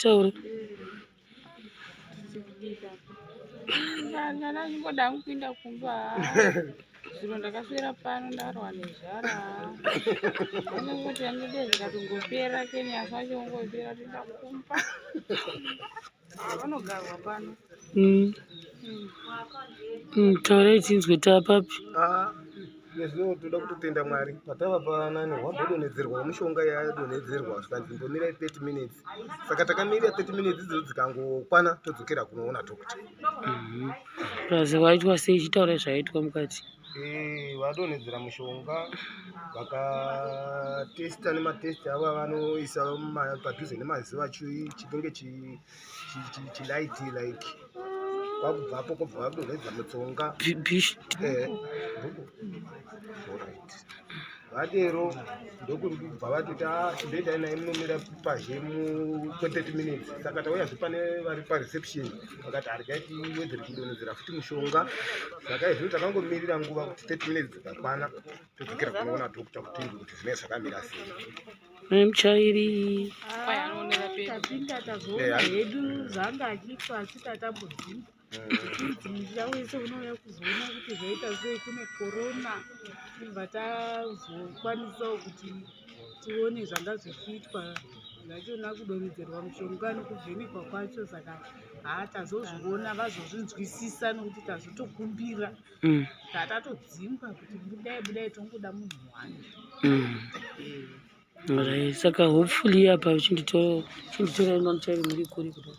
Tauri. Ndana ndingoda kupinda kumba. Zviro ndakaswera pano ndarwa nezvara. Pane kuti andide zvikatongopera kenya zvacho ngopera tinda kumba. vanogarwa pano mm. mm, taura ichinzwe taapapi ah, nezvino toda kutotenda mwari patava panani hwambodonhedzerwa mushonga yadonhedzerwa zvikanzi mbomira 30 minutes saka takamira 30 minutes idzo dzikangokwana todzokera kunoona doctor mm-hmm. plus waitwa sei ichitaura zvaitwa mukati mm -hmm. Eh, vadonhedzera mushonga vakatesta nematesti avo avanoisa padhuze nemaziva chinenge chilaiti like kwakubvapo kobva vadonhedza mutsonga eh, vadero ndokuri kubva vatoti a ah, ndoendai naye munomira pazhe mu30 minutes saka tauyazve pane vari pareception vakati hargai tiwedzere kudonhedzera futi mushonga saka izvino takangomirira nguva kuti 30 minutes dzikakwana todzokera kunoona dokta kutindi kuti zvinee zvakamira sei mai muchairi ah, tapinda tazoona hedu zvanga achiitwa achitatambudzika Dzinja wese unouya kuzoona kuti zvoita sei kune korona ibva tazokwanisawo kuti tione zvanga zvichiitwa zvachona kudonhedzerwa mushonga nokuvhenekwa kwacho saka haa tazozviona vazozvinzwisisa nokuti tazotokumbira mm. tatatodzingwa kuti budai budai tongoda munhu wani mm. eh. saka hopefully apa chinditora inonotairi muri kuri kudai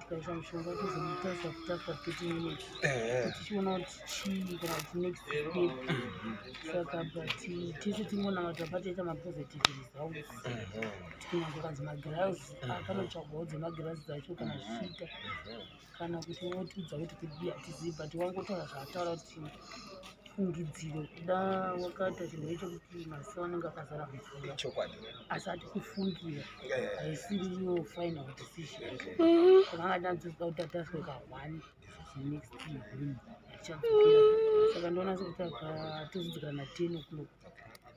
tikaisa mushonga tozomutarisa kuti after thirty minutes tichiona kuti chii kana kuti next step saka but tese tingonamata patoita mapositive results tikunyange kanzi magirazi akanotsvagwawo dzemagirazi dzacho kana zvichiita kana kuti wotiudza kuti kudii hatizivi but wangotaura zvaataura kuti fungidziro kuda wakaita chinhu icho kuti maziso anenge akazara mvura chokwadi asi ati kufungira haisiri iyo final decision kana anga tanzozwa kuti ataswe ka one next him achadzokera saka ndoona sekuti akatozodzikana ten o'clock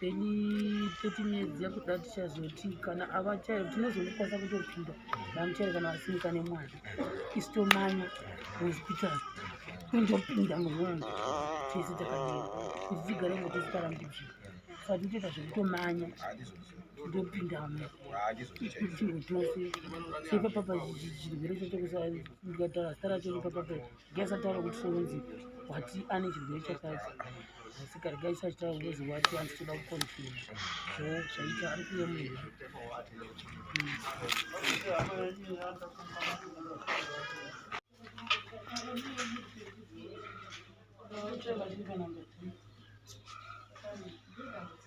then 30 minutes yakuda tichazoti kana ava chairo tinozongokwanisa kutopinda vamuchairo kana vasimuka nemwana isitomanya hospital kundopinda mumwana tese takadii kuti tigare ngo tisikarambidzvi saka titoita zvekutomanya ndopindamo itingo tose sepapapa chirwere chacho kusaikatara stara chonipapapa Gesa taura kuti sonzi wati ane chirwere chakati asika regai sachitaura ngozi wati andichitoda kukonfirma so zvaita ari kuve munhu Thank you.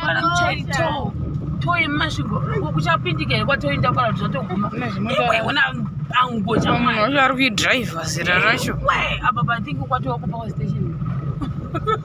kana muchaitawo toyi mumasvingo kuchapindika here kwatoinda kwara zvatoguma iwaiona ango chaari kuidriver zera racho apa pathink kwatowa kupower station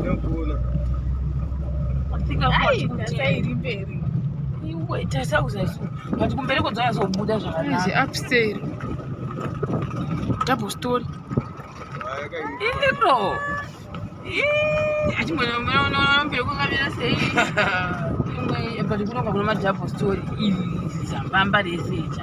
Ndokuona. Afika kwa chiri mberi. Iwe tasa uzaso. But kumbere kodzaya zobuda zvakanaka. Izi upstairs. Double story. Iro. Eh, ati mwana mwana mwana mbere kokamira sei? Imwe but kunoka kuna madouble story. Izi zambamba rese icha.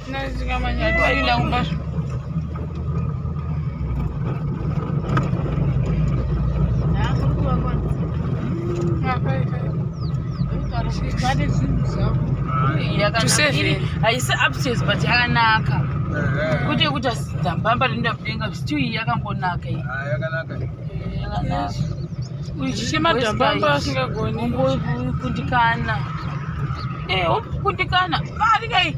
haisi upstairs but yakanaka kuti yekuti asidzambamba rinoenda kudenga vstiu iyi yakangonaka iyi uchichemadambambaasingagonikundikana eh, kundikana varikai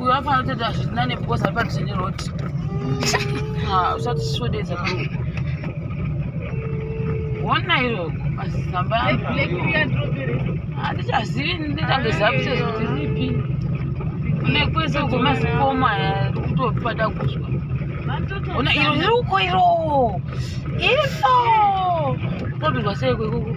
uyo afana kutoita zvitina nebukosa ari padhuze neroti usati sisodedza bro hona iro mazamba andichazivi nditange zavise kuti ripi kune kwese uko mazikoma kutopada kuzwa ona iro riri uko iro iro todurwa sei kwekuku